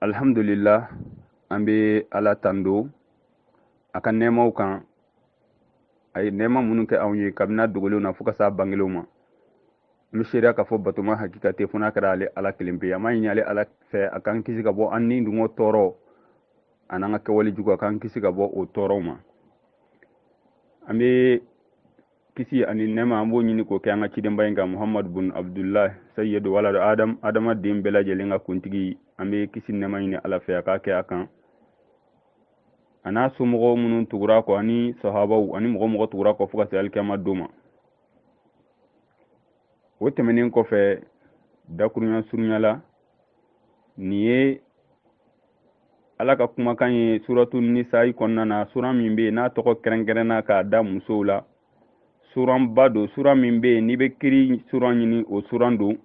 alhamdulillah an bɛ ala tando a ka nɛɛmaw kan a ye nɛɛma minnu kɛ anw ye kabini dogolenw na fo ka s'a bangelenw ma an bɛ seereya k'a fɔ batoma hakika tɛ fo n'a kɛra ale ala kelen pe an b'a ɲini ale ala fɛ a k'an kisi ka bɔ an ni dungɔ tɔɔrɔ a n'an ka kɛwale jugu a k'an kisi ka bɔ o tɔɔrɔw ma an bɛ kisi ani nɛɛma an b'o ɲini k'o kɛ an ka cidenba in kan muhamadu bun abdulahi sayidu waladu adam adamaden bɛɛ lajɛlen ka kuntigi an bɛ kisi nɛɛma ɲini ala fɛ a k'a kɛ a kan a n'a somɔgɔw minnu tugura a kɔ ani sahabaw ani mɔgɔ o mɔgɔ tugura u kɔ fo ka se alikiyama don ma o tɛmɛnen kɔfɛ dakurunya surunya la nin ye ala ka kumakan ye suratu nisayi kɔnɔna na sura min bɛ yen n'a tɔgɔ kɛrɛnkɛrɛnna k'a da musow la suranba don sura min bɛ yen n'i bɛ kiiri suran ɲini o suran don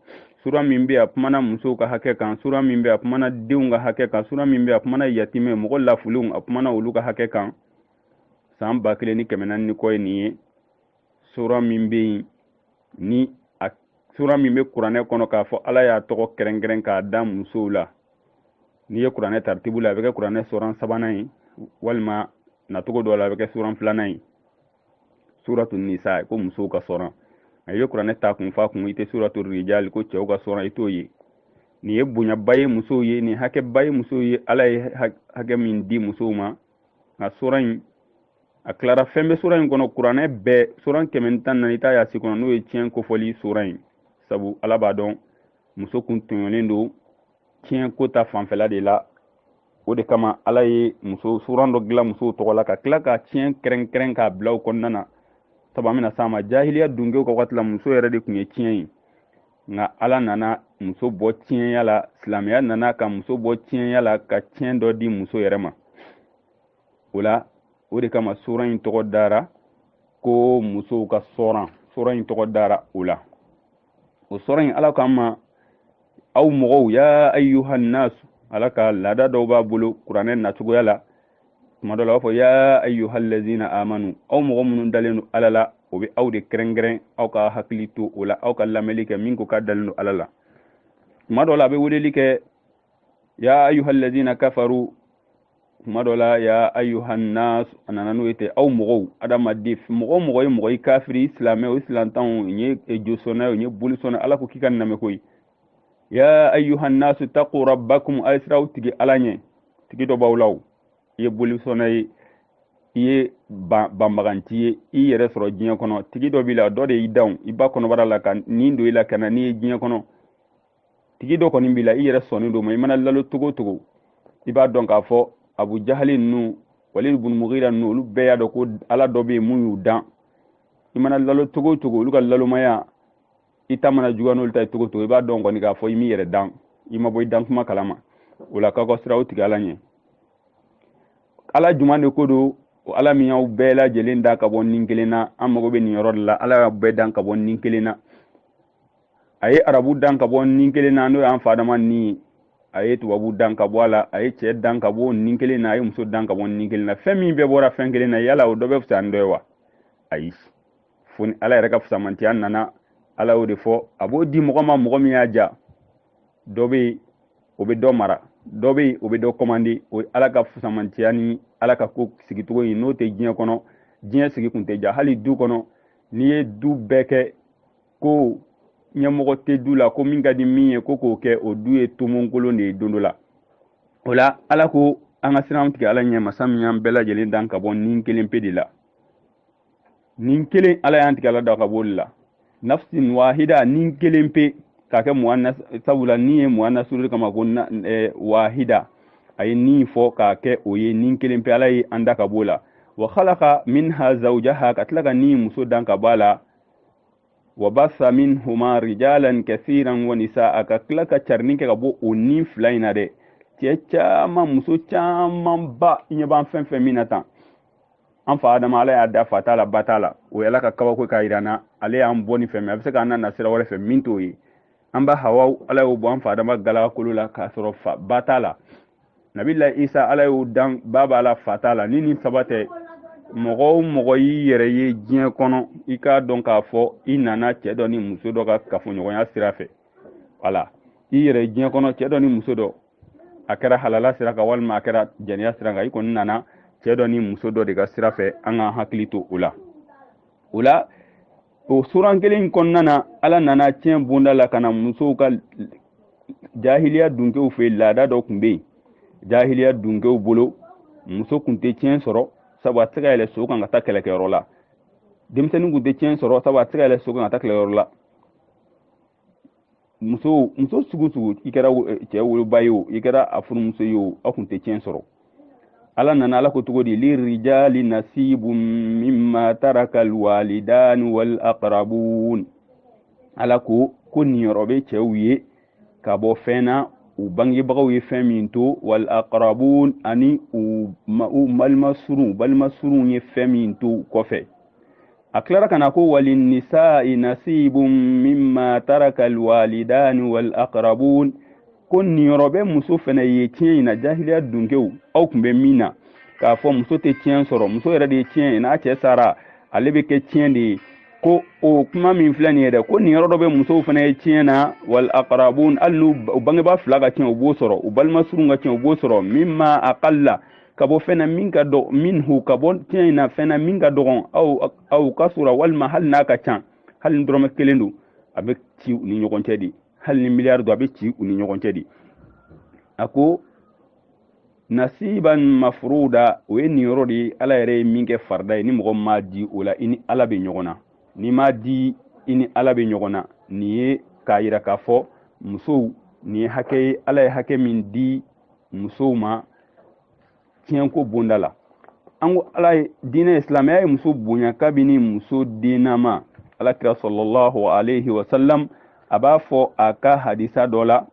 sura min bɛ a kumana musow ka hakɛ kan sura min bɛ a kumana denw ka hakɛ kan sura min bɛ a kumana yatimɛ mɔgɔ lafulenw a kumana olu ka hakɛ kan san ba kelen ni kɛmɛ naani ni kɔ ye nin ye sura min bɛ yen ni a sura min bɛ kuranɛ kɔnɔ k'a fɔ ala y'a tɔgɔ kɛrɛnkɛrɛn k'a da musow la n'i ye kuranɛ taritibu la a bɛ kɛ kuranɛ suran sabanan ye walima nacogo dɔ la a bɛ kɛ suran filanan ye suratu nisa ko musow ka suran i bɛ kuranɛ ta kun f'a kun i tɛ suratu rijali ko cɛw ka suran i t'o ye nin ye bonyaba ye musow ye nin hakɛba ye musow ye ala ye hakɛ min di musow ma nka sura in a tilara fɛn bɛ sura in kɔnɔ kuranɛ bɛɛ sura kɛmɛ ni tan naani i t'a y'a si kɔnɔ n'o ye tiɲɛ kofɔli sura in sabu ala b'a dɔn muso kun tɔɲɔlen don tiɲɛ ko ta fanfɛla de la o de kama ala ye muso suran dɔ dilan musow tɔgɔ la ka tila ka tiɲɛ kɛrɛnkɛrɛn k'a bila o kɔnɔna na sabu an bɛna s'a ma jahiliya dunkew ka waati la muso yɛrɛ de tun ye tiɲɛ ye nka ala nana muso bɔ tiɲɛya la silamɛya nana ka muso bɔ tiɲɛya la ka tiɲɛ dɔ di muso yɛrɛ ma o la o de kama suran in tɔgɔ dara ko musow ka suran suran in tɔgɔ dara o la o suran in ala k'an ma aw mɔgɔw ya ayyuhan nasu ala ka laada dɔw b'a bolo kuranɛ nacogoya la tuma dɔ la a b'a fɔ ya ayyuhallazina amanu aw mɔgɔ minnu dalen don ala la o bɛ aw de kɛrɛnkɛrɛn aw ka hakili to o la aw ka lamɛnli kɛ min ko k'a dalen don ala la tuma dɔ la a bɛ weleli kɛ ya ayyuhallazina kafaru tuma dɔ la ya ayyuhannas a nana n'o ye ten aw mɔgɔw adamaden mɔgɔ o mɔgɔ ye mɔgɔ ye kafiri silamɛ o ye silantan o ye josɔnna ye o ye bolisɔnna ala ko k'i ka n lamɛn ko ye ya ayuha nnasu taku rabbakum a ye siran aw tigi ala ɲɛ tigi dɔ b'aw la o i ye bolisɔnna ye i ye banbaganti ye i yɛrɛ sɔrɔ diɲɛ kɔnɔ tigi dɔ b'i la dɔ de y'i dan i ba kɔnɔbara la ka nin don i la ka na n'i ye diɲɛ kɔnɔ tigi dɔ kɔni b'i la i yɛrɛ sɔnnen don a ma i mana nalon cogo cogo i b'a dɔn k'a fɔ abu jahali ninnu walid bun mugira ninnu olu bɛɛ y'a dɔn ko ala dɔ bɛ yen mun y'u dan i mana nalon cogo cogo olu ka nalonmaya i ta mana juguya n'olu ta ye cogo cogo i b'a dɔn kɔni k'a fɔ i m'i yɛrɛ dan i ma bɔ i dan kuma kalama o la k'aw ka siran aw tigi ala ɲɛ ala juman de ko don ala min y'aw bɛɛ lajɛlen dan ka bɔ nin kelen na an mago bɛ nin yɔrɔ de la ala y'aw bɛɛ dan ka bɔ nin kelen na a ye arabu dan ka bɔ nin kelen na n'o y'an fa adama ni ye a ye tubabu dan ka bɔ a la a ye cɛ dan ka bɔ nin kelen na a ye muso dan ka bɔ nin kelen na fɛn min bɛɛ bɔra fɛn kelen na yala o dɔ bɛ fisaya ni dɔ ye wa ayi fo ni ala yɛrɛ ka fusamantiya nana ala y'o de fɔ a b'o di mɔgɔ ma mɔgɔ min y'a ja dɔ bɛ yen o bɛ dɔ mara dɔ bɛ yen o bɛ dɔ kɔmandi o ye ala ka fusamantiya ni ala ka ko sigicogo ye n'o tɛ diɲɛ kɔnɔ diɲɛ sigi kun tɛ ja hali du kɔnɔ n'i ye du bɛɛ kɛ ko ɲɛmɔgɔ tɛ du la ko min ka di min ye ko k'o kɛ o du ye tomonkolon de ye don dɔ la o la ala ko an ka siran an tigi ala ɲɛ masa min y'an bɛɛ lajɛlen dan ka bɔ ni kelen pe de la nin kelen ala y'an tigi ala dan ka b'olu la nafsin wahida nin kelen pe k'a kɛ muannas sabula ni ye muannas suruli kama ko eh, wahida a ye nin fɔ k'a kɛ o ye nin kelen pe ala ye an dan ka b'o la wa khalaqa minha zawjaha ka tila ka ni muso dan ka b'a la wa basa minhuma rijalan kathiran wa nisaa ka tila ka carini kɛ ka bɔ o ni fila in na dɛ cɛ caman muso camanba i ɲɛ b'an fɛn fɛn min na tan an fa adama ala y'a dan fa t'a la ba t'a la o ye ala ka kabako k'a yira an na ale y'an bɔ nin fɛ mɛ a bɛ se k'an nana sira wɛrɛ fɛ min t'o ye an ba hawa ala y'o bɔ an fa adama galaka kolo la k'a sɔrɔ fa ba t'a la nabila isa ala y'o dan ba b'a la fa t'a la ni nin saba tɛ mɔgɔ o mɔgɔ y'i yɛrɛ ye diɲɛ kɔnɔ i k'a dɔn k'a fɔ i nana cɛ dɔ ni muso dɔ ka kafoɲɔgɔnya sira fɛ wala i yɛrɛ ye diɲɛ kɔnɔ cɛ dɔ ni muso dɔ a kɛra halala sira kan walima a kɛra jɛnɛya sira kan i kɔni nana cɛ dɔ ni muso dɔ de ka sira fɛ an ka hakili to o la o la o suran kelen kɔnɔna na ala nana tiɲɛ bonda la ka na musow ka jahiliya dunkew fɛ laada dɔ tun bɛ yen jahiliya dunkew bolo muso tun tɛ tiɲɛ sɔrɔ sabu a tɛ se ka yɛlɛ so kan ka taa kɛlɛkɛyɔrɔ la denmisɛnnin tun tɛ tiɲɛ sɔrɔ sabu a tɛ se ka yɛlɛ so kan ka taa kɛlɛkɛyɔrɔ la muso muso sugu sugu i kɛra eh, cɛ woloba ye o i kɛra a furumuso ye o aw kun tɛ tiɲɛ sɔrɔ ala nana ala ko cogo di lirijali nasibu mimma taraka alwalidani wal aqrabun ala ko ko niyɔrɔ bɛ cɛw ye ka bɔ fɛn na u bangebagaw ye fɛn min to wal aqrabun ani u balima surun ye fɛn min to kɔfɛ a tilara ka na ko walinisai nasibun mima taraka alwalidani walakrabun ko niyɔrɔ bɛ muso fɛnɛ ye tiɲɛ in na jahiliya dunkew aw tun bɛ min na k'a fɔ muso tɛ tiɲɛ sɔrɔ muso yɛrɛ de ye tiɲɛ ye n'a cɛ sara ale bɛ kɛ tiɲɛ de ye ko o kuma min filɛ nin ye dɛ ko niyɔrɔ dɔ bɛ musow fana ye tiɲɛ na wal akarabun hali n'u bangebaa fila ka tiɲɛ u b'o sɔrɔ u balima surun ka tiɲɛ u b'o sɔrɔ mimma qalla ka bɔ fɛn na min ka dɔgɔ minhu ka bɔ tiɲɛ in na fɛn na min ka dɔgɔn aw aw kasura walima hali n'a ka ca hali ni dɔrɔmɛ kelen don a bɛ ci u ni ɲɔgɔn cɛ de hali ni miliyari don a bɛ ci u ni ɲɔgɔn cɛ de a ko nasiban mafuruda o ye niyɔrɔ de ye ala yɛrɛ ye min kɛ farida ye ni mɔgɔ m'a di o la i ni ala bɛ ɲɔgɔn na n'i m'a di i ni ala bɛ ɲɔgɔn na nin ye k'a yira k'a fɔ musow nin ye hakɛ ye ala ye hakɛ min di musow ma tiɲɛko bonda la an ko ala ye diinɛ silamɛya ye muso bonya kabini muso dennama ala kira salallahu alayhi wa sallam a b'a fɔ a ka hadisa dɔ la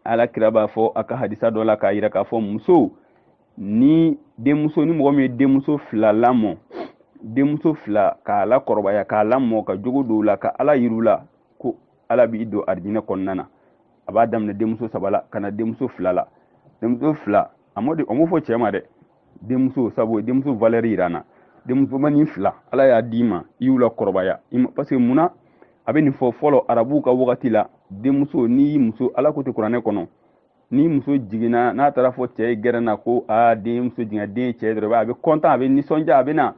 ala kira b'a fɔ a ka hadisa dɔ la k'a yira k'a fɔ muso ni denmuso ni mɔgɔ min ye denmuso fila lamɔ denmuso fila k'a lakɔrɔbaya k'a lamɔ ka jogo don u la ka ala yir'u la ko ala b'i don arijinɛ kɔnɔna na a b'a daminɛ denmuso saba la ka na denmuso fila la denmuso fila a m'o fɔ cɛ ma dɛ denmuso sabu denmuso valeur yir'an na denmusomanin fila ala y'a d'i ma i y'u lakɔrɔbaya parce que munna a bɛ nin fɔ fɔlɔ arabuw ka wagati la denmuso n'i y'i muso ala ko ten kuranɛ kɔnɔ ni muso jiginna n'a taara fɔ cɛ ye gɛrɛn na ko aa denmuso jiginna den cɛ dɔrɔn a bɛ kɔntan a bɛ nisɔndiya a bɛ na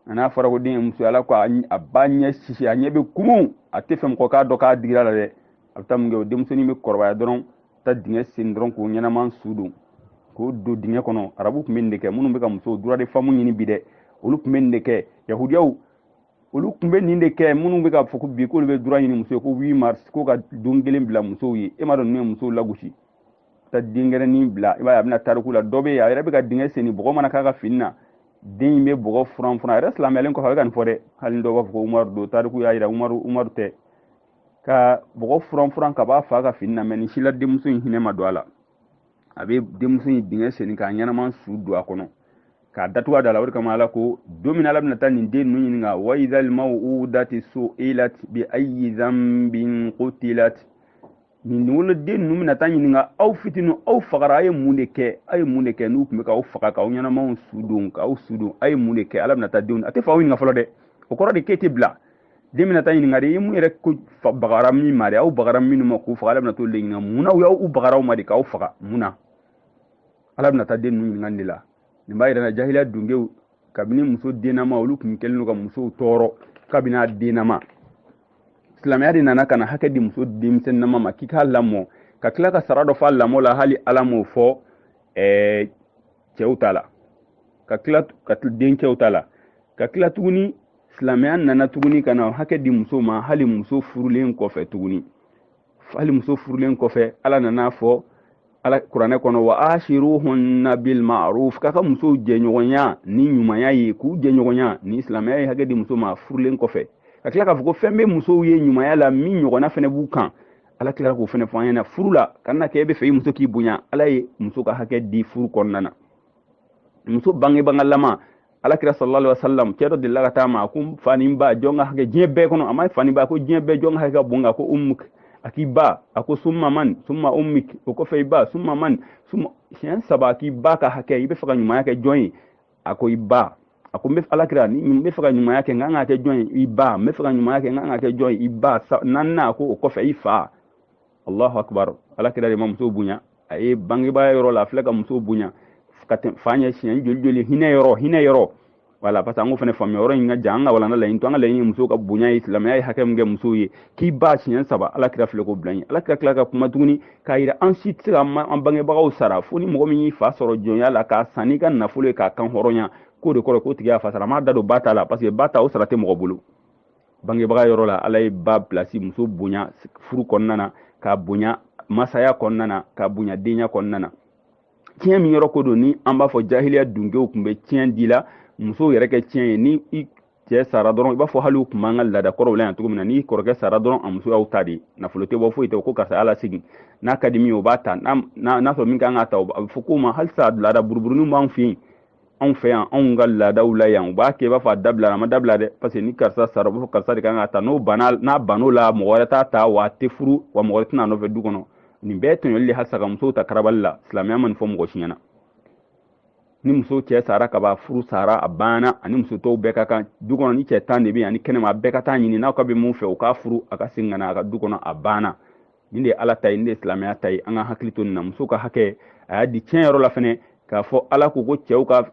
a n'a fɔra ko den ye muso ala ko a b'a ɲɛ sisi a ɲɛ bɛ kumu a t'a fɛ mɔgɔ k'a dɔn k'a digira a la dɛ a bɛ taa mun kɛ o denmusonin bɛ kɔrɔbaya dɔrɔn taa dingɛ sen dɔrɔn k'o ɲɛnama su don k'o don dingɛ kɔnɔ arabu kun bɛ nin de kɛ minnu bɛ ka musow droit de femme ɲini bi dɛ olu kun bɛ nin de kɛ yahudiyaw olu kun bɛ nin de kɛ minnu bɛ k'a fɔ ko bi k'olu bɛ droit ɲini muso ye ko huit mars ko ka don kelen bila musow ye e m'a dɔn ninnu ye musow lagosi ta denkɛrɛnin bila i b'a ye a bɛ na tariku la dɔ bɛ yen a yɛrɛ bɛ ka dingɛ sen ni bɔgɔ mana k'a ka fini na den in bɛ bɔgɔ furan furan a yɛrɛ silamɛyalen kɔfɛ a bɛ ka nin fɔ dɛ hali dɔw b'a fɔ ko umaru don tariku y'a jira umaru umaru tɛ ka bɔgɔ furan furan ka b'a fa ka fini na mɛ nin si la denmuso in hinɛ ma don a la a bɛ denmuso in dingɛ sen k'a ɲɛnama su don a kɔnɔ k'a datugu a da la o de kama ala ko don min ala bɛna taa nin den ninnu ɲininka wa idal maw'udatu su'ilat bi ayyi zanbin qutilat nin woloden ninnu bɛna taa ɲininka aw fitinin aw fagara aw ye mun de kɛ aw ye mun de kɛ n'u tun bɛ k'aw faga k'aw ɲɛnamaw su don k'aw su don aw ye mun de kɛ ala bɛna taa denw a tɛ faw ɲininka fɔlɔ dɛ o kɔrɔ de k'i tɛ bila den bɛna taa ɲininka de i mun yɛrɛ ko bagara min ma de aw bagara minnu ma k'u faga ala bɛna t'o de ɲininka mun na u y'aw bagara aw ma de k'aw faga mun na ala bɛna taa den ninnu ɲininka nin de la nin b'a yira na jahiliya dungew kabini muso dennama olu tun kɛlen don ka musow tɔɔrɔ kabini a dennama silamɛya de nana ka na hakɛ di muso denmisɛnnama ma k'i k'a lamɔ ka tila ka sara dɔ fɔ a lamɔ la hali ala m'o fɔ ɛɛ cɛw ta la denkɛw ta la ka tila tuguni silamɛya nana tuguni ka na hakɛ di muso ma hali muso furulen kɔfɛ tuguni hali muso furulen kɔfɛ ala nana a fɔ ala kuranɛ kɔnɔ wa ashiruhunna bil ma'ruf k'a ka musow jɛɲɔgɔnya ni ɲumanya ye k'u jɛɲɔgɔnya ni silamɛya ye hakɛ di muso ma furulen kɔfɛ ka tila k'a fɔ ko fɛn bɛ musow ye ɲumanya la min ɲɔgɔnna fɛnɛ b'u kan ala tilara k'o fɛnɛ fɔ an ɲɛna furu la kana kɛ e bɛ fɛ i muso k'i bonya ala ye muso ka hakɛ di furu kɔnɔna na muso bangebagalama ala kira sallallahu alaihi wasallam cɛ dɔ delila ka taa a ma a ko fa ni ba jɔn ka hakɛ diɲɛ bɛɛ kɔnɔ a ma fa ni ba ko diɲɛ bɛɛ jɔn ka hakɛ ka bon ka ko ummuk a k'i ba a ko summa man summa ummuk o kɔfɛ i ba summa man summa siɲɛ saba a k'i ba ka hakɛ i bɛ fɛ ka ɲumanya kɛ jɔn ye a ko i ba a ko n bɛ ala kira ni n bɛ fɛ ka ɲumanya kɛ n kan ka kɛ jɔn ye i ba n bɛ fɛ ka ɲumanya kɛ n kan ka kɛ jɔn ye i ba naaninan a ko o kɔfɛ i fa allahu akbar ala kira de ma muso bonya a ye bangebaa yɔrɔ la a filɛ ka muso bonya ka tɛmɛ fa ɲɛ siɲɛ joli joli hinɛ yɔrɔ hinɛ yɔrɔ wala parce que an ko fana faamuya yɔrɔ in ka jan an ka walanda laɲini t'o an ka laɲini muso ka bonya ye silamɛya ye hakɛ min kɛ musow ye k'i ba siɲɛ saba ala kira filɛ k'o bila ɲɛ ala kira tilala ka kuma tuguni k'a yira an si tɛ se ka an bangebagaw sara fo ni mɔgɔ min y'i fa sɔrɔ jɔnya la k'a san n'i ka nafolo ye k'a kanhɔrɔnya k'o de kɔrɔ k'o tigi y'a fa sara m'a da don ba ta la parce que ba ta o sara tɛ mɔgɔ bolo bangebaga yɔrɔ la ala ye ba pilasi muso bonya furu kɔnɔna na k'a bonya masaya kɔnɔna na k'a bonya denya kɔnɔna na tiɲɛ min yɔrɔ ko don ni an b'a fɔ jahiliya dunkew tun bɛ tiɲɛ di la musow yɛrɛ kɛ tiɲɛ ye ni i cɛ sara dɔrɔn i b'a fɔ hali u tun b'an ka laada kɔrɔw la yan cogo min na n'i kɔrɔkɛ sara dɔrɔn a muso y'aw ta de nafolo tɛ bɔ foyi tɛ ko karisa ala segin n'a ka di min ye o b'a ta n'a sɔrɔ min kan ka ta a bɛ fɔ k'o ma halisa laada buruburuninw b'an fɛ yen anw fɛ yan anw ka laadaw la yan u b'a kɛ i b'a fɔ a dabila a ma dabila dɛ parce que ni karisa sara u b'a fɔ karisa de kan k'a ta n'o banna n'a ban'o la mɔgɔ wɛrɛ t'a ta wa a tɛ furu wa mɔgɔ wɛrɛ tɛ n'a nɔfɛ du kɔnɔ nin bɛɛ tɔɲɔli de halisa ka musow ta karabali la silamɛya ma nin fɔ mɔgɔ si ɲɛna ni muso cɛ sara ka ban furu sara a banna ani muso tɔw bɛɛ ka kan du kɔnɔ ni cɛ tan de bɛ yen ani kɛnɛma a bɛɛ ka t'a ɲini n'aw ka bɛ min fɛ u k'a furu a ka segin ka na a ka du kɔnɔ a banna nin de ye ala ta ye nin de ye silamɛya ta ye an ka hakili to nin na muso ka hakɛ a y'a di tiɲɛ yɔrɔ la fɛnɛ k'a fɔ ala ko ko cɛw ka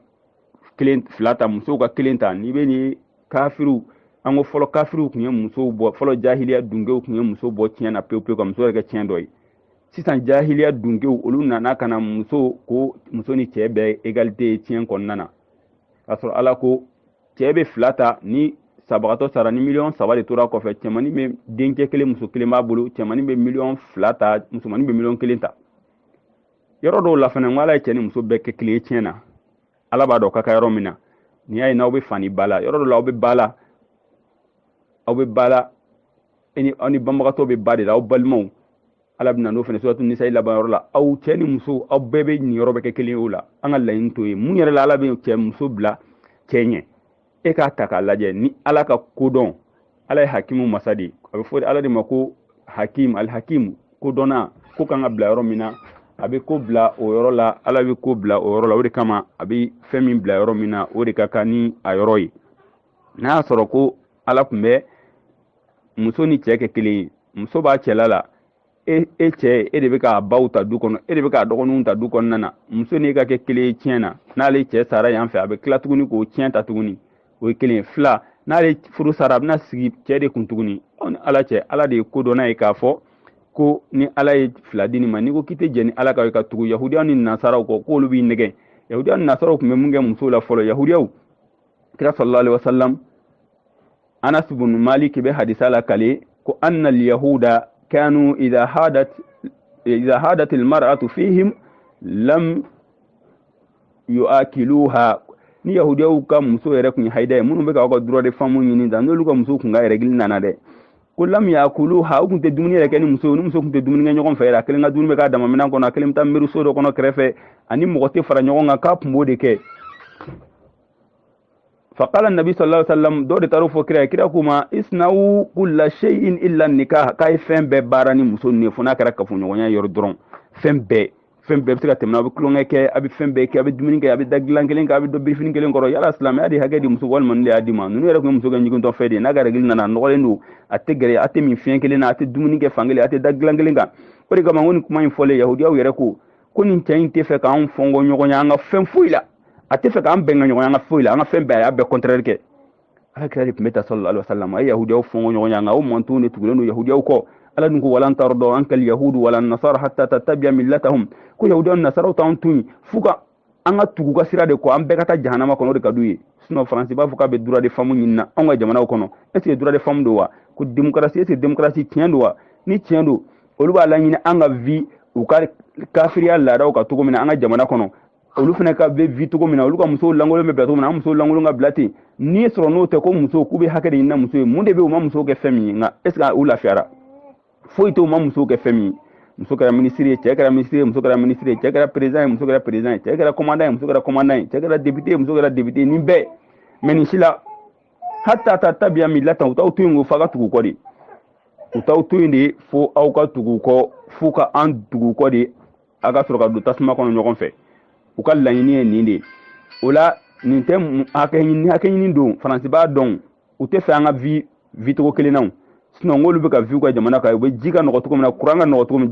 kelen fila ta musow ka kelen ta n'i bɛ ni kafiriw an ko fɔlɔ kafiriw tun ye musow bɔ fɔlɔ jahiliya dunkew tun ye muso bɔ tiɲɛ na pewu pewu ka muso yɛrɛ kɛ tiɲɛ dɔ ye sisan jahiliya dunkew olu nana ka na muso ko muso ni cɛɛ bɛɛ égalité ye tiɲɛ kɔnɔna na k'a sɔrɔ ala ko cɛɛ be fila ta ni sabagatɔ sara ni miliyɔn saba de tora kɔfɛ cɛmani be denkɛ kelen muso kelen b'a bolo cɛmani be miliyɔn fila ta musomani be miliyɔn kelen ta yɔrɔ dɔw la fana ko ala ye cɛɛ ni muso bɛɛ kɛ kelen ye tiɲɛ na ala b'a dɔn a ka kan yɔrɔ min na n'i y'a ye n'aw be fa ni ba la yɔrɔ dɔ la aw be ba la aw be ba la aw ni banbagatɔ be ba de la aw balimaw ala bɛ na n'o fana suratu nisa laban yɔrɔ la aw cɛ ni muso aw bɛɛ niyɔrɔ bɛ kɛ kelen o la an ka laɲini to ye mun yɛrɛ la ala bɛ cɛ muso bila cɛ ɲɛ e k'a ta k'a lajɛ ni ala ka kodɔn ala ye hakimu masa de a bɛ fɔ ala de ma ko hakim alhakim kodɔnna ko kan ka bila yɔrɔ min na a bɛ ko bila o yɔrɔ la ala bɛ ko bila o yɔrɔ la o de kama a bɛ fɛn min bila yɔrɔ min na o de ka kan ni a yɔrɔ ye n'a y'a sɔrɔ ko ala tun bɛ muso ni cɛ kɛ kelen ye muso b'a cɛla la e e cɛ e de bɛ k'a baw ta du kɔnɔ e de bɛ k'a dɔgɔninw ta du kɔnɔna na muso n'e ka kɛ kelen ye tiɲɛ na n'ale cɛ sara yan fɛ a bɛ tila tuguni k'o tiɲɛ ta tuguni o ye kelen ye fila n'ale furu sara a bɛna sigi cɛ de kun tuguni aw ni ala cɛ ala de ye kodɔnna ye k'a fɔ ko ni ala ye fila di nin ma n'i ko k'i tɛ jɛn ni ala ta ye ka tugu yahudiyaw ni nasaraw kɔ k'olu b'i nɛgɛn yahudiyaw ni nasaraw tun bɛ mun kɛ musow la fɔlɔ yahudiyaw kira sallallahu alaihi wasallam anas bun malik be hadisa lakali ko anna alyahuda kanu idha hadat idha hadat almar'atu fihim lam yuakiluha ni yahudiyaw ka muso yɛrɛ kun ye haida ye minnu bɛ k'aw ka droit de femme ɲini ta n'olu ka muso kun ka règle nana dɛ ko lam yuakiluha u kun tɛ dumuni yɛrɛ kɛ ni muso ni muso kun tɛ dumuni kɛ ɲɔgɔn fɛ yɛrɛ a kelen ka dumuni bɛ k'a dama minɛn kɔnɔ a kelen bɛ taa miiriso dɔ kɔnɔ kɛrɛfɛ a ni mɔgɔ tɛ fara ɲɔgɔn kan k'a kun b'o de kɛ faqala annabi sallallahu alaihi wasallam dɔw de taar'o fɔ kira ye kira k'u ma isnawu kulla shay'in illa nikah k'a ye fɛn bɛɛ baara ni muso ninnu ye fo n'a kɛra kafoɲɔgɔnya yɔrɔ dɔrɔn fɛn bɛɛ fɛn bɛɛ bɛ se ka tɛmɛ a bɛ tulonkɛ kɛ a bɛ fɛn bɛɛ kɛ a bɛ dumuni kɛ a bɛ da dilan kelen kan a bɛ don birifini kelen kɔrɔ yala silamɛya de hakɛ di muso walima ne de y'a di ma ninnu yɛrɛ tun ye muso kɛ ɲigintɔ fɛn de ye n'a ka règle nana a nɔgɔlen don a tɛ gɛrɛ a tɛ min filen kelen na a tɛ dumuni kɛ fan kelen a tɛ da dilan kelen kan o de kama n ko nin kuma in fɔlen yahudiyaw yɛrɛ ko ko nin cɛ in t'a fɛ k'anw fɔnkɔ ɲɔgɔn ye an ka fɛn foyi la a tɛ fɛ k'an bɛn ka ɲɔgɔn an ka foyi la an ka fɛn bɛɛ a y'a bɛɛ kɔntɛrɛri kɛ ala kira de tun bɛ ten sallallahu alaihi wasallam a ye yahudiyaw fɔngɔ ɲɔgɔn ya nka o mantonw de tugulen don yahudiyaw kɔ ala dun ko wa lan tarda ankal yahudu wala nasara hatta tattabia millatahum ko yahudiyaw ni nasaraw t'an to yen f'u ka an ka tugu u ka sira de kɔ an bɛɛ ka taa jahanama kɔnɔ o de ka d'u ye sinɔn faransi b'a fɔ k'a bɛ droit de femme ɲinina anw ka jamanaw kɔnɔ est ce que droit de femme don wa ko démocratie est ce que démocratie tiɲɛ don wa ni tiɲɛ don olu b'a laɲini an ka vi u ka kafiriya laadaw ka cogo min na an ka jamana kɔnɔ olu fana ka bɛ vi cogo min na olu ka musow lankolon bɛ bila cogo min na an musow lankolon ka bila ten sinɔn n'o tɛ ko muso k'u bɛ hakɛ de ɲinina muso ye mun de bɛ u ma musow kɛ fɛn min ye nka est ce que u lafiyara foyi tɛ u ma musow kɛ fɛn min ye muso kɛra minisiri ye cɛ kɛra minisiri ye muso kɛra minisiri ye cɛ kɛra perezidan ye muso kɛra perezidan ye cɛ kɛra kɔmandan ye muso kɛra kɔmandan ye cɛ kɛra depite ye muso kɛra depite ye nin bɛɛ mɛ nin si la hatta tattabia millatahum u t'aw to yen ko f'a ka tugu u kɔ de u t'aw to yen de fo aw ka tugu u kɔ f'u ka an tugu u kɔ de a ka sɔrɔ ka don tasuma kɔnɔ ɲɔgɔn fɛ u ka laɲini ye nin de ye o la nin tɛ hakɛɲini hakɛɲini don faransi b'a dɔn u tɛ fɛ an ka vi vi cogo kelen na sinɔn n'olu bɛ ka vi u ka jamana kan u bɛ ji ka nɔgɔ cogo min na kuran ka nɔgɔ cogo min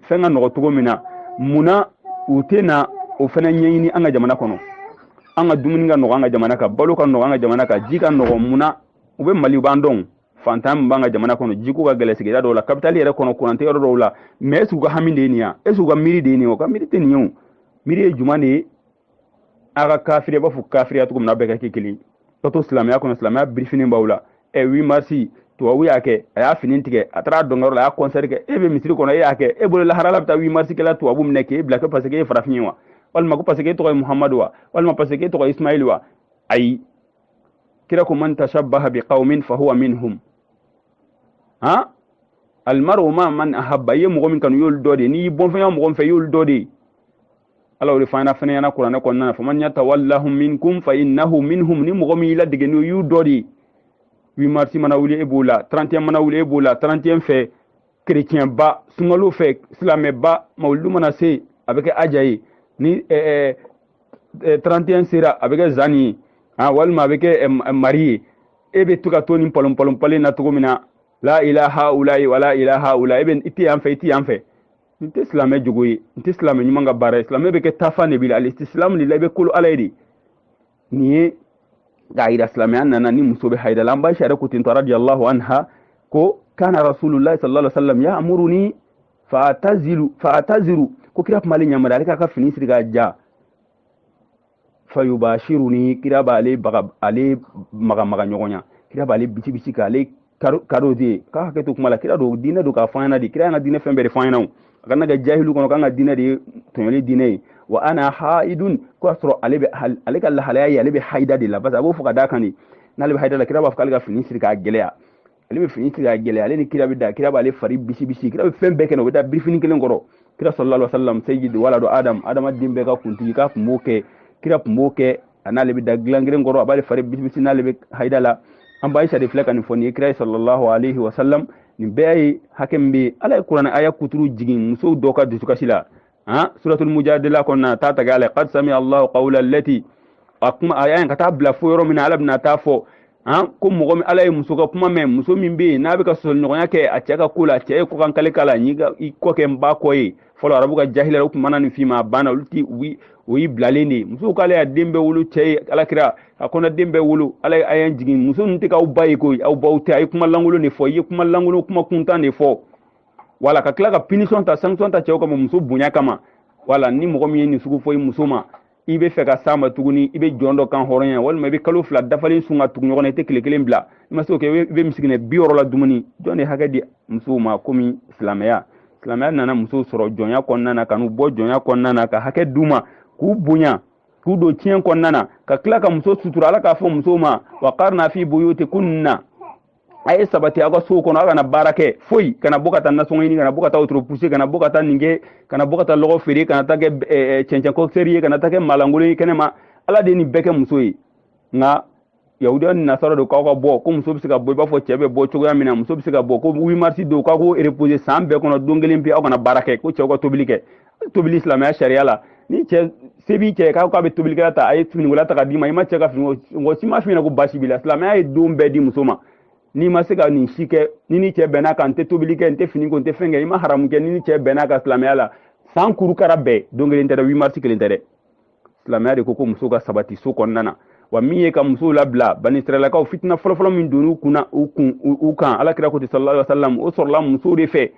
fɛn ka nɔgɔ cogo min na mun na u tɛ na o fana ɲɛɲini an ka jamana kɔnɔ an ka dumuni ka nɔgɔ an ka jamana kan balo ka nɔgɔ an ka jamana kan ji ka nɔgɔ mun na u bɛ mali u b'a dɔn fantan min b'an ka jamana kɔnɔ jiko ka gɛlɛ sigida dɔw la kapitali yɛrɛ kɔnɔ kuran tɛ yɔrɔ dɔw la mɛ est ce u ka hami de ye nin ye est ce u ka miiri de ye nin u ka miiri tɛ nin ye u miiri ye jumɛn de ye a ka kafiri i b'a fɔ kafiriya cogo min na bɛɛ ka kɛ kelen ka to silamɛya kɔnɔ silamɛya birifini b'aw la ɛ 8 marisi tubabu y'a kɛ a y'a fini tigɛ a taara dɔnkɛyɔrɔ la a y'a kɔnsɛri kɛ e bɛ misiri kɔnɔ e y'a kɛ e bolo laharala bɛ taa 8 marisi kɛ ala tubabu minɛ k'e bila ko paseke e farafin ye wa walima ko paseke e tɔgɔ ye muhamadu wa walima paseke e tɔgɔ ye ismaili wa ayi kira ko man tashabbaha bi qaumin fa huwa minhum ha almaru maa man ahabba i ye mɔgɔ min kanu y'olu dɔ de n'i bɔnfɛnya mɔgɔ min fɛ y'olu dɔ de ala o de fana fɔ an ɲɛna kuranɛ kɔnɔna na wa man yatawallahum minkum fa innahu minhum ni mɔgɔ min y'u ladege n'o y'u dɔ de 8 marisi mana wuli e b'o la 31 mana wuli e b'o la 31 fɛ kerecɛnba sunkalo fɛ silamɛba mawuludu mana se a bɛ kɛ aja ye ni 31 sera a bɛ kɛ zani ye ah, walima a bɛ kɛ mari ye e bɛ to ka to nin pɔlɔnpɔlɔnpɔlen na cogo min na la ila haulayi wala ila haulayi bɛ i tɛ yan fɛ i tɛ yan fɛ nin tɛ silamɛ jogo ye nin tɛ silamɛ ɲuman ka baara ye silamɛ bɛ kɛ taafan de bi la alisilamu de la i bɛ kolo ala ye de nin ye k'a yira silamɛya nana ni muso bɛ hayida la an ba sariya ko ten tɔ radiyallahu anha ko kana rasulullahi sallallahu alaihi wa sallam ya'muruni fa taziru fa taziru ko kira kun b'ale yamari ale k'a ka fini siri k'a ja fa yubashiruni kira b'ale maga ale maga maga ɲɔgɔnya kira b'ale bisi bisi ka ale kado de ka hakɛ to kuma la kira do dine do ka fanyana de kira na dine fɛn bɛɛ de fanyana o a kana kɛ jahilu kɔnɔ kan ka dine de tɔɲɔli dine ye wa ana haidun k'o y'a sɔrɔ ale bɛ ale ka lahalaya ye ale bɛ haida de la parce que a b'o fɔ ka d'a kan de n'ale bɛ haida la kira b'a fɔ k'ale ka fini siri k'a gɛlɛya ale bɛ fini tigɛ a gɛlɛya ale ni kira bɛ da kira b'ale fari bisi bisi kira bɛ fɛn bɛɛ kɛ u bɛ da birifini kelen kɔrɔ kira sallallahu alaihi wasallam sayyid waladu adam adama den bɛɛ ka kuntigi k'a kun b'o kɛ kira kun b'o kɛ a n'ale bɛ da dilan kelen kɔrɔ a b'ale fari bisi bisi n'ale bɛ hayida la an ba aisa de filɛ ka nin fɔ nin ye kira ye sallallahu alaihi wasallam nin bɛɛ ye hakɛ min bɛ ala ye kuranɛ aya kuturu jigin muso dɔ ka dusukasi la ha suratul mujadila kɔnɔna a t'a tagɛ a la qad sami allahu qawla allati a kuma a y'a ye ka taa bila fo yɔrɔ min na ala bɛna t'a fɔ han ko mɔgɔ min ala ye muso ka kuma mɛn muso min bɛ yen n'a bɛ ka sɔsɔɲɔgɔnya kɛ a cɛ ka ko la a cɛ ye kɔkankali k'a la ne ka i kɔ kɛ n ba kɔ ye fɔlɔ arabu ka jahiliya u tun mana nin f'i ma a banna olu ti o y'i bilalen de ye muso k'ale y'a den bɛɛ wolo cɛ ye ala kira a kɔnɔden bɛɛ wolo ala ye aya jigin muso ninnu tɛ kɛ aw ba ye koyi aw baw tɛ a ye kuma lankolon de fɔ i ye kuma lankolon kuma kuntan de fɔ wa ala ka tila ka punition ta sanction ta cɛw kama muso bonya kama wala ni mɔgɔ min ye nin sugu fɔ i muso ma i bɛ fɛ ka s'a ma tuguni i bɛ jɔn dɔ kanhɔrɔnya walima i bɛ kalo fila dafalen sun ka tugu ɲɔgɔn na i tɛ tile kelen bila i ma se o kɛ i bɛ misikinɛ bi wɔɔrɔ ladumuni jɔn de hakɛ di musow ma komi silamɛya silamɛya nana musow sɔrɔ jɔnya kɔnɔna na ka n'u bɔ jɔnya kɔnɔna na ka hakɛ d'u ma k'u bonya k'u don tiɲɛ kɔnɔna na ka tila ka muso sutura ala k'a fɔ musow ma wa qarna fi buyutikunna a ye sabati aw ka sow kɔnɔ aw kana baara kɛ foyi kana bɔ ka taa nasɔngɔ ɲini kana bɔ ka taa wotoro puse kana bɔ ka taa nin kɛ kana bɔ ka taa lɔgɔ feere kana taa kɛ cɛncɛn kɔkisɛri ye kana taa kɛ maalankolon ye kɛnɛ ma ala de ye nin bɛɛ kɛ muso ye nka yahudiya ni nasara dun k'aw ka bɔ ko muso bɛ se ka bɔ i b'a fɔ cɛ bɛ bɔ cogoya min na muso bɛ se ka bɔ ko 8 mars don k'aw ka repose san bɛɛ kɔnɔ don kelen pe aw kana baara kɛ ko cɛw ka tobili kɛ tobili silamɛya sariya la n'i cɛ se b'i cɛ k'a ko a bɛ tobilikɛla ta i ye finikola ta k'a d'i ma i ma cɛ ka fini mɔgɔ si ma f'i ɲɛna ko baasi b'i la silamɛya ye don bɛɛ di muso ma n'i ma se ka nin si kɛ n'i n'i cɛ bɛnna a kan n tɛ tobili kɛ n tɛ fini ko n tɛ fɛn kɛ i ma haramu kɛ n'i n'i cɛ bɛnna a kan silamɛya la san kurukara bɛɛ don kelen tɛ dɛ 8 mars kelen tɛ dɛ silamɛya de ko ko musow ka sabati so kɔnɔna na wa min ye ka musow labila banisiralakaw fitina fɔlɔfɔlɔ min donni u kunna u kun u kan ala kira ko ten sallallahu alaihi wasallam o sɔrɔla musow de fɛ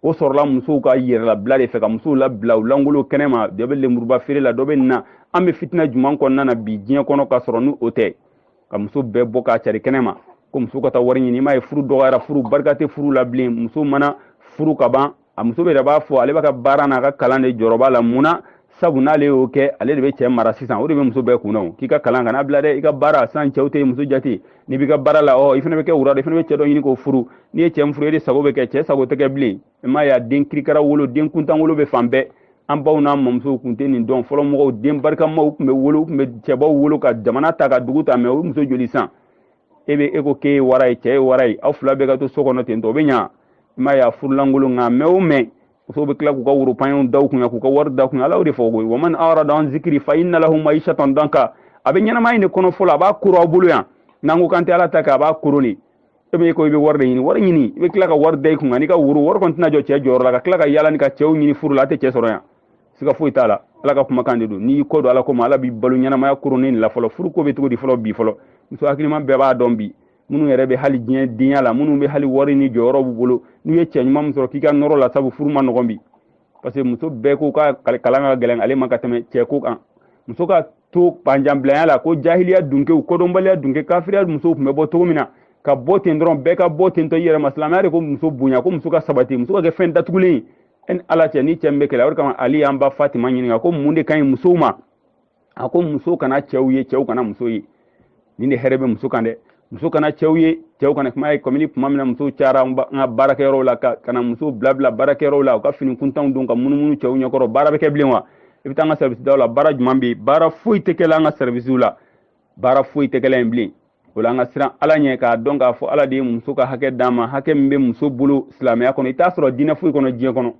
o sɔrɔla musow ka yɛrɛlabila de fɛ ka musow labila u lankolon kɛnɛ ma dɔ bɛ lenburuba feere la dɔ bɛ nin na an bɛ fitina juman kɔnɔna na bi diɲɛ kɔnɔ ka sɔrɔ ni o tɛ ka muso bɛɛ bɔ k'a cari kɛnɛ ma ko muso ka taa wari ɲini i m'a ye furu dɔgɔyara furu barika tɛ furu la bilen muso mana furu ka ban a muso yɛrɛ b'a fɔ ale b'a ka baara n'a ka kalan de jɔrɔba la mun na sabu n'ale y'o kɛ ale de bɛ cɛ mara sisan o de bɛ muso bɛɛ kun na o k'i ka kalan kana bila dɛ i ka baara san cɛw tɛ muso jate n'i b'i ka baara la ɔ i fana bɛ kɛ wara de i fana bɛ cɛ dɔ ɲini k'o furu n'i ye cɛ min furu e de sago bɛ kɛ cɛ sago tɛ kɛ bilen i m'a ye a den kirikara wolo den kuntan wolo bɛ fan bɛɛ an baw n'an mamusow tun tɛ nin dɔn fɔlɔ mɔgɔw den barikamaw tun bɛ wolo u tun bɛ cɛbaw wolo ka jamana ta ka dugu ta mɛ o muso joli san e bɛ e ko k'e ye wara ye cɛ ye wara ye aw fila bɛɛ ka to so kɔnɔ ten tɔ o bɛ ɲa i m'a ye a furu lankolon nka mɛ o mɛ musow bɛ tila k'u ka woro panyew da u kunna k'u ka wari da kunna ala y'o de fɔ koyi wa man arada an zikiri fa inna lahu maishatan danka a bɛ ɲɛnamaya in de koron fɔlɔ a b'a koron aw bolo yan n'an ko k'an tɛ ala ta kɛ a b'a koron de e bɛ ko i bɛ wari de ɲini wari ɲini i bɛ tila ka wari da i kunna n'i ka woro wari kɔni tɛna jɔ cɛ jɔyɔrɔ la ka tila ka yaala ni ka cɛw ɲini furu la a tɛ cɛ sɔrɔ yan siga foyi t'a la ala ka kumakan de don n'i y'i kɔ don ala ko ma ala b'i balo ɲɛnamaya koronnin la fɔlɔ furu ko bɛ cogo di fɔlɔ bi fɔlɔ muso hakiliman bɛɛ b'a dɔn bi minnu yɛrɛ bɛ hali diɲɛ denya la minnu bɛ hali wari ni jɔyɔrɔ b'u bolo n'u ye cɛ ɲuman min sɔrɔ k'i ka nɔrɔ a la sabu furu man nɔgɔn bi parce que muso bɛɛ ko ka kalan ka gɛlɛn ale ma ka tɛmɛ cɛ ko kan muso ka to panjanbilanya la ko jahiliya dunkew kodɔnbaliya dunke kafiriya musow tun bɛ bɔ cogo min na ka bɔ ten dɔrɔn bɛɛ ka bɔ ten tɔ i yɛrɛ ma silamɛya de ko muso bonya ko muso ka sabati muso ka kɛ fɛn datugulen ye e ni ala cɛ ni cɛ min bɛ kɛlɛ o de kama ali y'an ba fatima ɲininka ko mun de ka ɲi musow ma a ko muso kana cɛw ye cɛw kana muso ye nin de hɛrɛ bɛ muso kan dɛ muso kana cɛw ye cɛw kana kuma ye kabini kuma min na musow cayara an ka baarakɛyɔrɔw la ka ka na musow bilabila baarakɛyɔrɔw la u ka fini kuntanw don ka munumunu cɛw ɲɛkɔrɔ baara bɛ kɛ bilen wa i bɛ taa an ka sɛribisidaw la baara juman bɛ yen baara foyi tɛ kɛla an ka sɛribisiw la baara foyi tɛ kɛla yen bilen o la an ka siran ala ɲɛ k'a dɔn k'a fɔ ala de ye muso ka hakɛ d'a ma hakɛ min bɛ muso bolo silamɛya kɔnɔ i t'a sɔrɔ diinɛ foyi kɔnɔ diɲɛ kɔnɔ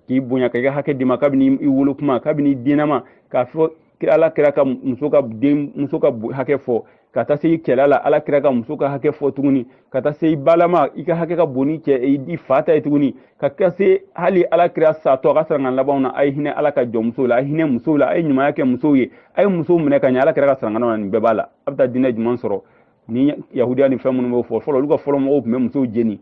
k'i bonya k'i ka hakɛ d'i ma kabini i wolo kuma kabini i dennama k'a fɔ kira ala kira ka muso ka denmuso ka hakɛ fɔ ka taa se i cɛla la ala kira ka muso ka hakɛ fɔ tuguni ka taa se i balama i ka hakɛ ka bon ni cɛ i fa ta ye tuguni ka taa se hali ala kira satɔ a ka sarankan labanw na a ye hinɛ ala ka jɔnmusow la a ye hinɛ musow la a ye ɲumanya kɛ musow ye a ye musow minɛ ka ɲɛ ala kira ka sarankanw na nin bɛɛ b'a la a bɛ taa diinɛ jumɛn sɔrɔ ni yahudiya ni fɛn minnu b'o fɔ fɔlɔ olu ka fɔlɔ mɔgɔw tun bɛ musow jeni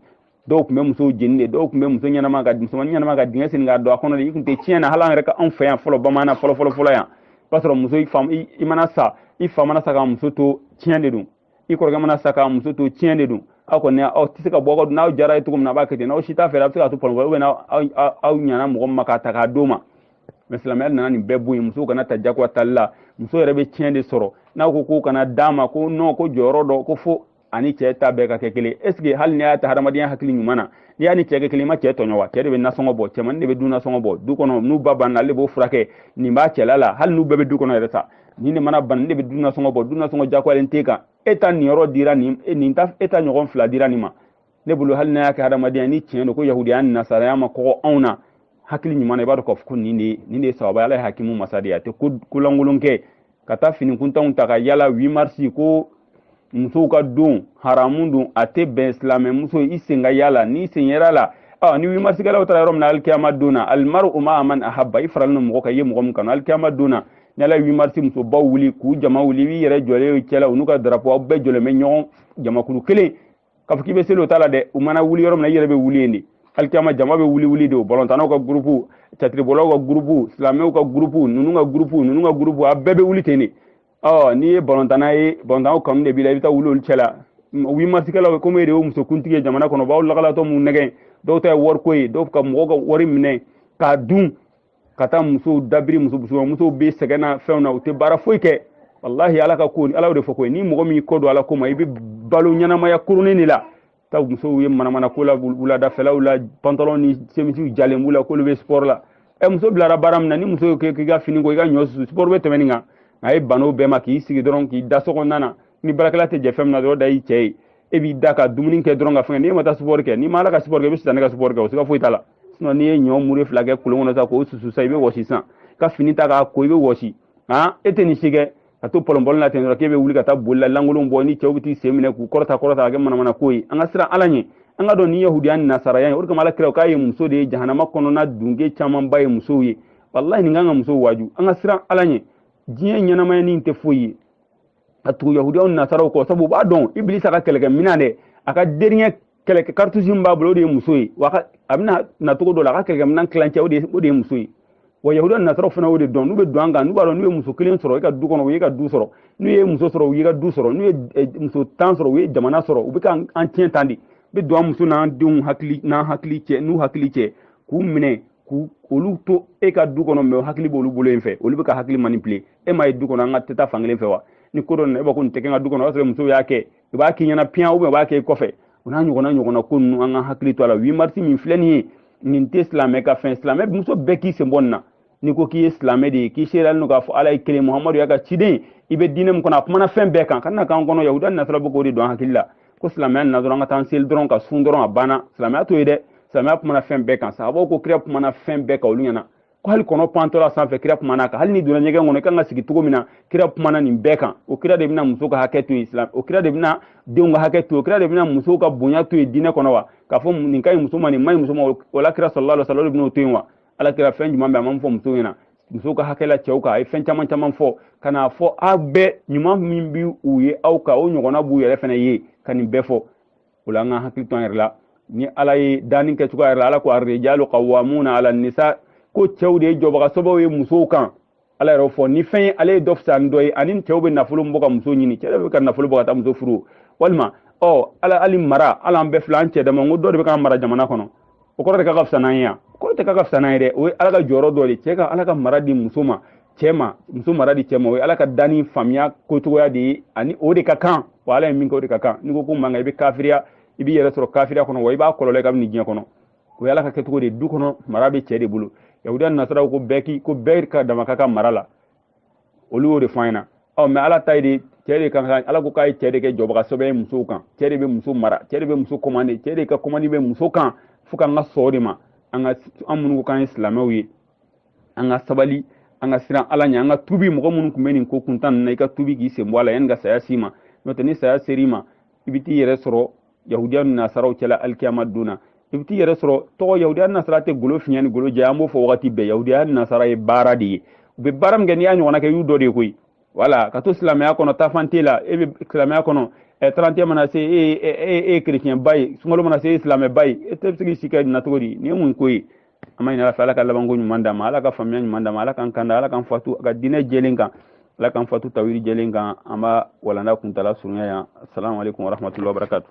dɔw tun bɛ musow jeni de dɔw tun bɛ muso ɲɛnama ka musoman ɲɛnama ka dingɛ sen k'a don a kɔnɔ de i tun tɛ tiɲɛ na hali an yɛrɛ ka anw fɛ yan fɔlɔ bamananna fɔlɔ fɔlɔ fɔlɔ yan i b'a sɔrɔ muso i mana sa i fa mana sa k'a muso to tiɲɛ de don i kɔrɔkɛ mana sa k'a muso to tiɲɛ de don aw kɔni aw tɛ se ka bɔ aw ka n'aw jara a ye cogo min na a b'a kɛ ten n'aw si t'a fɛ a bɛ se k'a to pɔnkɔ ou bien aw ɲana mɔgɔ min ma k'a ta k'a d'o ma mɛ silamɛya nana nin bɛɛ bɔ yen musow kana ta jagoya tali la muso yɛrɛ bɛ tiɲɛ de sɔrɔ n'aw ko k'o kana d'a ma ko nɔn ko jɔyɔrɔ dɔgɔ fo a ni cɛ ta bɛɛ ka kɛ kelen est ce que hali n'i y'a ta hadamadenya hakili ɲuman na n'i y'a ni cɛ kɛ kelen i ma cɛ tɔɲɔ wa cɛ de bɛ nasɔngɔ bɔ cɛmannin de bɛ du nasɔngɔ bɔ du kɔnɔ n'u ba banna ale de b'o furakɛ nin b'a cɛla la hali n'u bɛɛ bɛ du kɔnɔ yɛrɛ sa nin de mana bana ne bɛ du nasɔngɔ bɔ du nasɔngɔ jagoyalen t'e kan e ta nin yɔrɔ dira nin e nin ta e ta ɲɔgɔn fila dira nin ma ne bolo hali n'a y'a kɛ hadamadenya ni tiɲɛ don ko yahudiya ni nasaraya ma kɔgɔ anw na hakili ɲuman na i b'a dɔn k'a fɔ ko nin de nin de ye sababu ala ye hakimu masa de ye a tɛ ko lankolon kɛ ka taa finikuntanw ta ka yala 8 marisi ko musow ka don haramu don a tɛ bɛn silamɛmuso i sen ka y'a la n'i sen yer'a la ɔ ni wimarisikɛlaw taara yɔrɔ min na alikiyama don na alimaru maa man ahaba i faralen don mɔgɔ kan i ye mɔgɔ min kanu alikiyama don na ni ala ye wimarisi musobaw wuli k'u jama wuli i b'i yɛrɛ jɔlen y'u cɛla u n'u ka darapo aw bɛɛ jɔlen bɛ ɲɔgɔn jamakulu kelen k'a fɔ k'i bɛ seli o t'a la dɛ u mana wuli yɔrɔ min na i yɛrɛ bɛ wuli yen de alikiyama jama bɛ wuli wuli de o balɔntanaw ka gurupu catiribɔlaw ka gurupu silamɛw ka gurupu ninnu ka gurupu ninnu ka gurupu a bɛɛ bɛ wuli ten de ɔ n'i ye balontanna ye balontanw kanu de b'i la i bɛ taa wuli olu cɛ la wi marisikɛlaw komi e de y'o musokuntigi ye jamana kɔnɔ u b'aw lakalatɔ mun nɛgɛn dɔw ta ye wariko ye dɔw ka mɔgɔw ka wari minɛ k'a dun ka taa musow dabiri muso musoman musow bɛ sɛgɛn na fɛnw na u tɛ baara foyi kɛ walahi ala ka ko ala de fɔ ko ni mɔgɔ min kɔ don ala ko ma i bɛ balo ɲɛnamaya kurunin de la taa musow ye manamana ko la wuladafɛlaw la pantalon ni semisiw jalen b'u la k'olu bɛ sport la ɛ muso bilara baara min na ni muso k'i ka fini ko i ka ɲɔ susu sport bɛ tɛmɛ nin kan a ye ban o bɛɛ ma k'i sigi dɔrɔn k'i da so kɔnɔna na ni baarakɛla tɛ jɛ fɛn min na dɔrɔn da y'i cɛ ye e b'i da ka dumuni kɛ dɔrɔn ka fɛn n'i ma taa sport kɛ n'i ma ala ka sport kɛ i bɛ sitanɛ ka sport kɛ o siga foyi t'a la sinon n'i ye ɲɔ mure fila kɛ kolon kɔnɔ sa k'o susu sa i bɛ wɔsi sisan ka fini ta k'a ko i bɛ wɔsi han e tɛ nin si kɛ ka to pɔlɔnpɔlɔn na ten dɔrɔn k'e bɛ wuli ka taa boli la lankolon bɔ ni cɛw bɛ t'i sen minɛ k'u kɔrɔta kɔrɔta ka kɛ manamana ko ye an ka siran ala ɲɛ an k'a dɔn nin yahudiya ni nasaraya ye o de kama ala kira k'a ye muso de ye jahanama kɔnɔna dunke camanba ye musow ye walahi nin kan ka musow waaju an ka siran ala ɲɛ diɲɛ ɲɛnamaya nin tɛ foyi ye a tugu yahudiyaw nasaraw kɔ sabu u b'a dɔn ibilisa ka kɛlɛkɛ minan dɛ a ka deriɲɛ kɛlɛkɛ karitusi min b'a bolo o de ye muso ye wa a bɛna na cogo dɔ la a ka kɛlɛkɛ minan tilancɛ o de ye muso ye wa yahudiyaw nasaraw fana y'o de dɔn n'u bɛ don an kan n'u b'a dɔn n'u ye muso kelen sɔrɔ i ka du kɔnɔ u y'i ka du sɔrɔ n'u ye muso sɔrɔ u y'i ka du sɔrɔ n'u ye muso tan sɔrɔ u ye jamana sɔrɔ u bɛ ka an tiɲɛ tan de bɛ don an muso n'an denw hakili n'an hakili cɛ n'u hakili cɛ k'u minɛ k'u olu to e ka du kɔnɔ mɛ hakili b'olu bolo in fɛ olu bɛ k'u hakili manipule e ma ye du kɔnɔ an ka teta fankelen fɛ wa ni ko dɔ nana e b'a ko nin tɛ kɛ n ka du kɔnɔ o y'a sɔrɔ musow y'a kɛ i b'a k'i ɲɛna piyan u b'a kɛ i kɔfɛ o n'a ɲɔgɔnna ɲɔgɔnna ko ninnu an ka hakili to a la wi marisi min filɛ nin ye nin tɛ silamɛ ka fɛn silamɛ muso bɛɛ k'i sen bɔ nin na n'i ko k'i ye silamɛ de ye k'i seereyalen don k'a fɔ ala ye kelen muhamadu y'a ka ciden i bɛ diinɛ min kɔnɔ a kumana fɛn bɛɛ kan ka na k'an kɔnɔ yahudiya nasara bɛ k'o de don an hakili la ko silamɛya nana dɔrɔn an ka taa an seli dɔrɔn ka sun dɔrɔn a banna silamɛya t'o ye dɛ silamɛya kumana fɛn bɛɛ kan sababu ko kira kumana fɛn bɛɛ kan olu ɲɛna ko hali kɔnɔ pantɔla sanfɛ kira kuman'a kan hali n'i donna ɲɛgɛn kɔnɔ i kan ka sigi cogo min na kira kumana nin bɛɛ kan o kira de bɛna muso ka hakɛ to yen silam o kira de bɛna denw ka hakɛ to o kira de bɛna musow ka bonya to yen diinɛ kɔnɔ wa k'a fɔ nin ka ɲi muso ma nin ma ɲi muso ma o la kira salalahu alayhi wa salama de bɛna o to yen wa ala kira fɛn jumɛn bɛ a ma fɔ muso ɲɛna muso ka hakɛ la cɛw kan a ye fɛn caman caman fɔ ka n'a fɔ aw bɛɛ ɲuman min bi u ye aw kan o ɲɔgɔnna b'u yɛrɛ fana ye ka nin bɛɛ fɔ o la an ka hakili to an yɛrɛ la ni ala ye danni kɛ cogoya yɛrɛ la ala ko arijalu kawamuna ala nisa ko cɛw de ye jɔbaga sɔbɛ ye musow kan ala yɛrɛ fɔ ni fɛn ye ale ye dɔ fisa ni dɔ ye ani cɛw bɛ nafolo bɔ ka muso ɲini cɛ bɛ ka nafolo bɔ ka taa muso furu walima ɔ ala hali mara la an bɛɛ filɛ an cɛ dama ko dɔ de bɛ k'an mara jamana kɔnɔ o kɔrɔ de k'a ka fisa n'an ye yan o kɔrɔ tɛ k'a ka fisa n'an ye dɛ o ye ala ka jɔyɔrɔ dɔ de cɛ ka ala ka mara di muso ma cɛ ma muso mara di cɛ ma o ye ala ka danni faamuya kocogoya de ye ani o de ka kan wa ala ye min kɛ o de ka kan n'i ko k'o man kan i bɛ kafiriya i b'i yɛrɛ sɔrɔ kafiriya kɔnɔ wa i b'a kɔlɔlɔ ye kabini diɲɛ kɔnɔ o y'ala ka kɛcogo de du kɔnɔ mara bɛ cɛ de bolo yahudiya nasaraw ko bɛɛ k'i ko bɛɛ ka dama ka kan mara la olu y'o de fɔ an ɲɛna ɔ mɛ ala ta ye de cɛ de kan ka ala ko k'a ye cɛ de kɛ jɔbaga sɛbɛ ye musow kan cɛ de bɛ muso mara cɛ de bɛ muso kɔmande cɛ de ka kɔmandi bɛ muso kan fo k'an ka sɔn o de ma an ka an minnu ko k'an ye silamɛw ye an ka sabali an ka siran ala ɲɛ an ka tubi mɔgɔ minnu tun bɛ nin ko kuntan ninnu na i ka tubi k'i sen bɔ a la yanni ka saya s'i ma n'o tɛ ni saya ser'i ma i bɛ t'i yɛrɛ sɔrɔ yahudiya ni nasaraw cɛla alikiyama don na i bɛ t'i yɛrɛ sɔrɔ tɔgɔ yahudiya ni nasara tɛ golo fin ni golo jɛ an b'o fɔ wagati bɛɛ yahudiya ni nasara ye baara de ye u bɛ baara min kɛ n'i y'a ɲɔgɔnna kɛ y'u dɔ de ye koyi wala ka to silamɛya kɔnɔ taafan t'e la e bɛ silamɛya kɔnɔ ɛ tarantiɲɛ mana se e ye e ye kerecɛnba ye sunkalo mana se e ye silamɛba ye e tɛ se k'i si kɛ nin na cogo di nin ye mun ko ye an b'a ɲini ala fɛ ala ka labanko ɲuman d'an ma ala ka faamuya ɲuman d'an ma ala k'an kanda ala k'an fatu a ka diinɛ jɛlen kan ala k'an fatu tawiri jɛlen kan an b'a walanda kuntala surunya yan assalamu alaikum warahmatullahi wabarakatuh